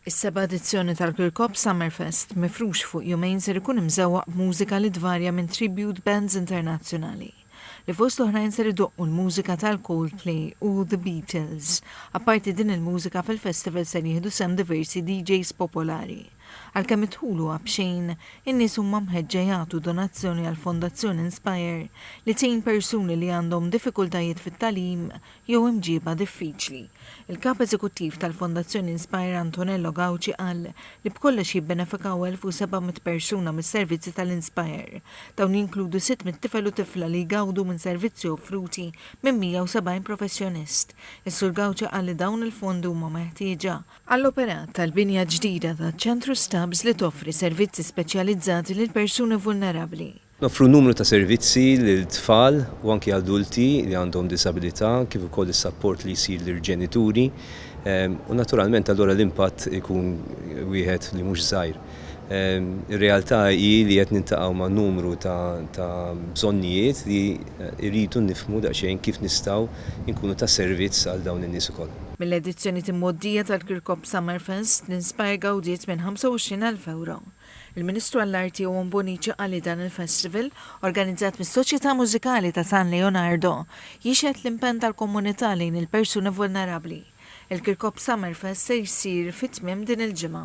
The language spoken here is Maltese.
Is-seba' edizzjoni tal-Kirkop Summerfest, mifrux fuq jumejn ser ikun imżewwaq b'mużika li tvarja minn tribute bands internazzjonali, li fost l-oħrajn ser idoqqu l-mużika tal-Coldplay u The Beatles. Apparti din il-mużika, fil-festival ser jieħdu sehem diversi DJs popolari. Għalkemm id-dħul huwa b'xejn, in-nies huma mħeġġa jagħtu donazzjoni għall-Fondazzjoni Inspire li tgħin persuni li għandhom diffikultajiet fit-tagħlim jew imġiba diffiċli. Il-Kap Eżekuttiv tal-Fondazzjoni Inspire Antonello Gauci qal li b'kollox jibbenefikaw 1,700 persuna mis-servizzi tal-Inspire. Dawn jinkludu 600 tifel u tifla li jgawdu minn servizzi offruti minn 170 professjonist. Is-Sur Gauci qal li dawn il-fondi huma meħtieġa, għall-operat tal-binja ġdida taċ-Ċentru Stubbs li toffri servizzi speċjalizzati lill-persuni vulnerabbli. Noffru numru ta' servizzi lil tfal u anki adulti li għandhom diżabilità kif ukoll is-sapport li jsir lill-ġenituri u naturalment allura l-impatt ikun wieħed li mhux żgħir. Ir-realtà hi li qed niltaqgħu ma' numru ta' bżonnijiet li rridu nifhmu daqsxejn kif nistgħu nkunu ta' servizz għal dawn in-nies ukoll. Mill-edizzjoni t'imgħoddija tal-Kirkop Summerfest, l-Inspire gawdiet minn 25,000 ewro. Il-Ministru għall-Arti Owen Bonnici qal li dan il-festival, organizzat mis-Soċjetà Mużikali ta' San Leonardo, jixhed l-impenn tal-komunità lejn il-persuni vulnerabbli. Il-Kirkop Summerfest se jsir fi tmiem din il-ġimgħa.